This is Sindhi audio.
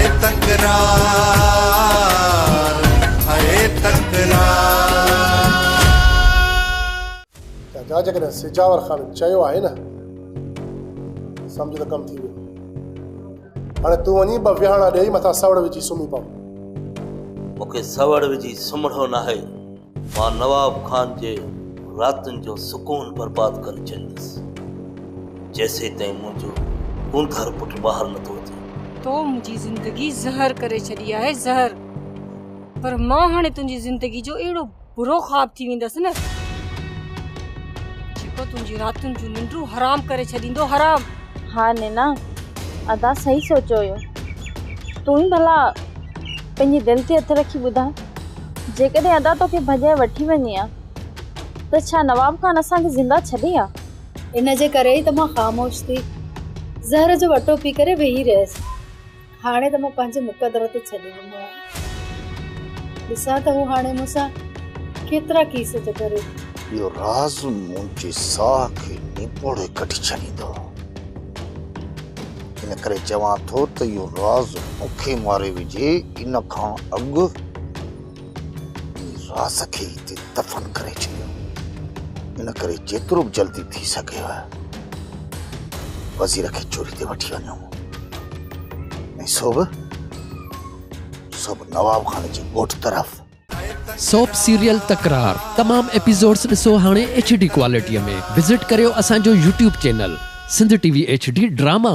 هيء تڪرار هيء تڪرار. جاجا جيڪڏهن سجاور خان چيو آهي نه سمجهه ته ڪم ٿي ويو. هاڻي تون وڃي ٻه ويهاڻا ڏيئي مٿان سوڙ وجهي سمهي پو. مون کي سوڙ وجهي سمهڻو ناهي. مان نواب خان جي راتن جو سڪون برباد ڪري ڇڏيندس، جيسيتائين منهنجو اوندهر پٽ ٻاهر نٿو اچي. تو منهنجي زندگي زهر ڪري ڇڏي آهي، زهر! پر مان هاڻي تنهنجي زندگي جو اهڙو برو خواب ٿي ويندس نه، جيڪو تنهنجي راتن جون ننڊون حرام ڪري ڇڏيندو، حرام! ها نينا، ادا صحيح سوچيو هيو. تون ئي ڀلا پنهنجي دل تي هٿ رکي ٻڌاء. جيڪڏهن ادا توکي ڀڄائي وٺي وڃي ها ته ڇا نواب خان اسان کي زنده ڇڏي ها؟ ان جي ڪري ئي ته مان خاموش ٿي زهر جو اٽو پي ڪري ويهي رهيس. هاڻي ته مان پنهنجي مقدر تي ڇڏي ڏنو آهي. ڏسان ته هو هاڻي مون سان ڪيترا ڪيس ٿو ڪري. اهو راز منهنجي ساهه کي نيپوڙي ڪڍي ڇڏيندو. ان ڪري چوان ٿو ته اهو راز مون کي ماري وجهي ان کان اڳ ان راز کي هتي دفن ڪري ڇڏيو ان ڪري جيترو به جلدي ٿي سگهيو وزير کي چوري تي وٺي وڃو ۽ سو به سو به نواب خان جي ڳوٺ طرف سوپ سيريل تڪرار تمام ايپيسوڊز ڏسو هاڻي ايڇ ڊي ڪوالٽي ۾ وزٽ ڪريو اسان جو YouTube channel Sindh T V H D drama.